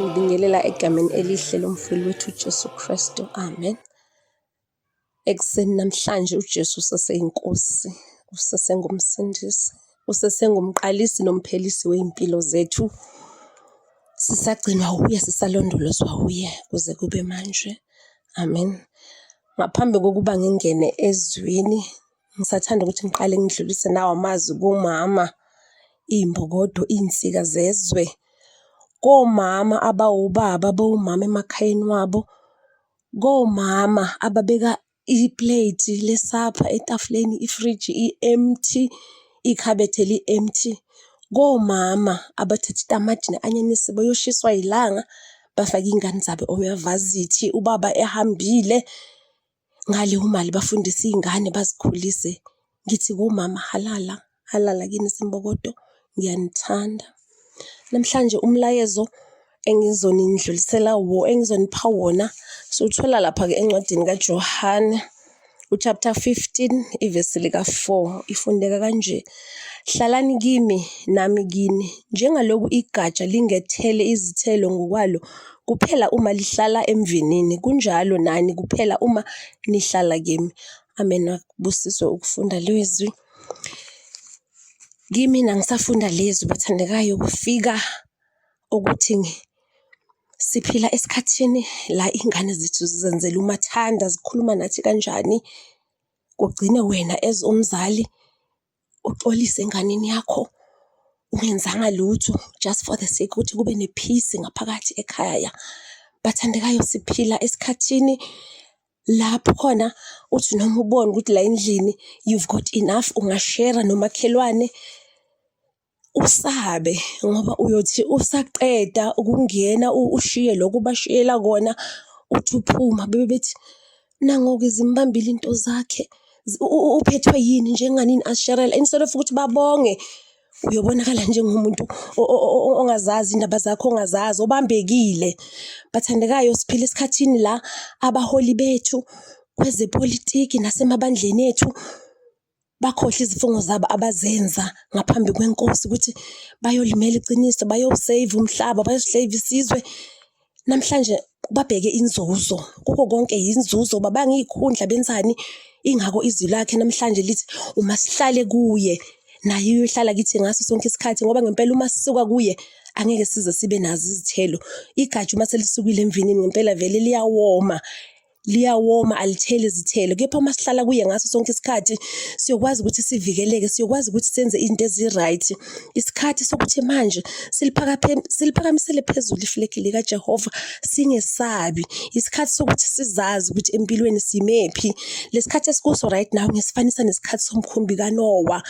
Ngibingelela egameni elihle lomfeli wethu uJesu Kristu. Amen. Ekuseni namhlanje uJesu useseyinkosi, usesengumsindisi, usesengumqalisi nomphelisi wezimpilo zethu. Sisagcinwa uye, sisalondolozwa uye kuze kube manje. Amen. Ngaphambi kokuba ngingene ezwini, ngisathanda ukuthi ngiqale ngidlulise nawo amazwi kumama, iy'mbokodo, iy'nsika zezwe, komama abawobaba, abawomama emakhayeni wabo, komama ababeka ipleti lesapha etafuleni, ifriji i-empty, ikhabethe li-empty, komama abathatha itamati ne-anyanisi beyoshiyiswa yilanga, bafake iy'ngane zabo omavazithi ubaba ehambile ngale umali bafundise iy'ngane bazikhulise ngithi kumama halala halala kini simbokodo ngiyanithanda namhlanje umlayezo engizonindlulisela wo engizonipha wona siwuthola lapha-ke encwadini kaJohane uchapter 15 ivesi lika-4 ifundeka kanje hlalani kimi nami kini njengaloku igatsha lingethele izithelo ngokwalo kuphela uma lihlala emvinini kunjalo nani kuphela uma nihlala kimi amen akubusiswe ukufunda lezwi kimina ngisafunda lezwi bathandekayo kufika ukuthi siphila esikhathini la iy'ngane zethu zizenzela umathanda, zikhuluma nathi kanjani, kugcine wena as umzali uxolise enganeni yakho ungenzanga lutho just for the sake ukuthi kube ne-peace ngaphakathi ekhaya. Bathandekayo, siphila esikhathini lapho khona uthi noma ubona ukuthi la endlini you've got enough, ungashera nomakhelwane. usabe ngoba uyothi usaqeda ukungena ushiye lokho bashiyela kona uthi uphuma bebe bethi nangoke zimbambile into zakhe uphethwe yini njenganini asherela instead of ukuthi babonge uyobonakala njengomuntu ongazazi indaba zakho ongazazi obambekile bathandekayo siphila esikhathini la abaholi bethu kwezepolitiki nasemabandleni ethu bakhohlwe izifungo zabo abazenza ngaphambi kwenkosi ukuthi bayolimela iqiniso bayosave umhlaba bayosave isizwe namhlanje babheke inzuzo kuko konke yinzuzo uba bangiyikhundla benzani ingako izwi lakhe namhlanje lithi uma sihlale kuye naye uyohlala kithi ngaso sonke isikhathi ngoba ngempela uma sisuka kuye angeke size sibe nazo izithelo igatsha uma selisukile emvinini ngempela vele liyawoma liyawoma alitheli izithelo kepha uma sihlala kuye ngaso sonke isikhathi siyokwazi ukuthi sivikeleke siyokwazi ukuthi senze izinto ezi-right isikhathi sokuthi manje siliphakamisele phezulu iflegi likajehova singesabi isikhathi sokuthi sizazi ukuthi empilweni simephi lesikhathi esikuso right now ngesifanisa nesikhathi somkhumbi kanowa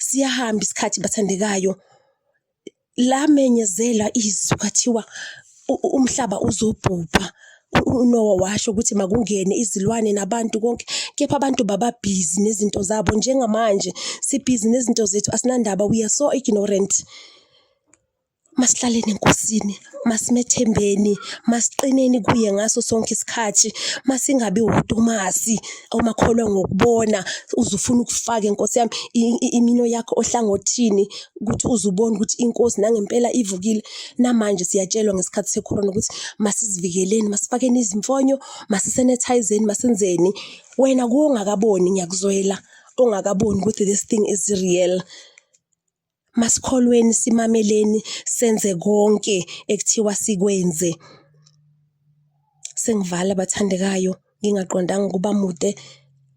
siyahamba isikhathi bathandekayo lamenyezelwa izwi kwathiwa umhlaba uzobhubha uNowa washo ukuthi makungene izilwane nabantu konke kepha abantu baba busy nezinto zabo njengamanje si busy nezinto zethu asinandaba we are so ignorant Masihlaleni eNkosini, masimethembeni, masiqineni kuye ngaso sonke isikhathi, masingabi wutumasi omakholwa ngokubona uze ufune ukufake Nkosi yami imino yakho ohlangothini ukuthi uze ubone ukuthi iNkosi nangempela ivukile. Namanje siyatshelwa ngesikhathi sekhona ukuthi masizivikeleni, masifakeni izimfonyo, masisenethayizeni, masenzeni. Wena kungakaboni ngiyakuzwela ongakaboni ukuthi this thing is real. masikholweni simameleni senze konke ekuthiwa sikwenze sengivala bathandekayo ngingaqondanga ukuba mude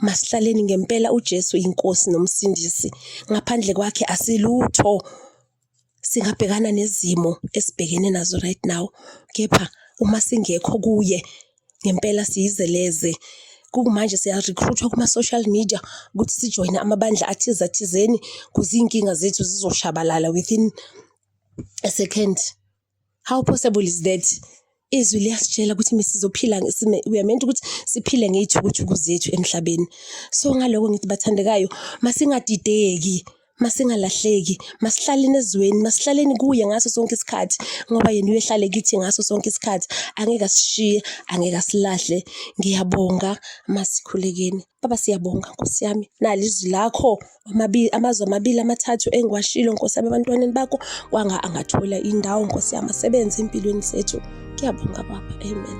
masihlaleni ngempela uJesu inkosi nomsindisi ngaphandle kwakhe asilutho singabhekana nezimo esibhekene nazo right now kepha uma singekho kuye ngempela siyizeleze. Kumanje siya-recruit-wa kuma-social media ukuthi sijoyine amabandla athize athizeni cause iy'nkinga zethu zizoshabalala within a second. How possible is that? Izwi liyasitshela ukuthi mesizophila we are meant ukuthi siphile ngey'thukuthuku zethu emhlabeni. So ngaloko ngithi bathandekayo masingadideki masingalahleki masihlaleni ezweni masihlaleni kuye ngaso sonke isikhathi ngoba yena uyehlale kithi ngaso sonke isikhathi angeke asishiye angeke asilahle ngiyabonga masikhulekeni baba siyabonga nkosi yami nali izwi lakho amabili amazwi amabili amathathu engiwashilo nkosi yami ebantwaneni bakho kwanga angathola indawo nkosi yami asebenze empilweni zethu ngiyabonga baba amen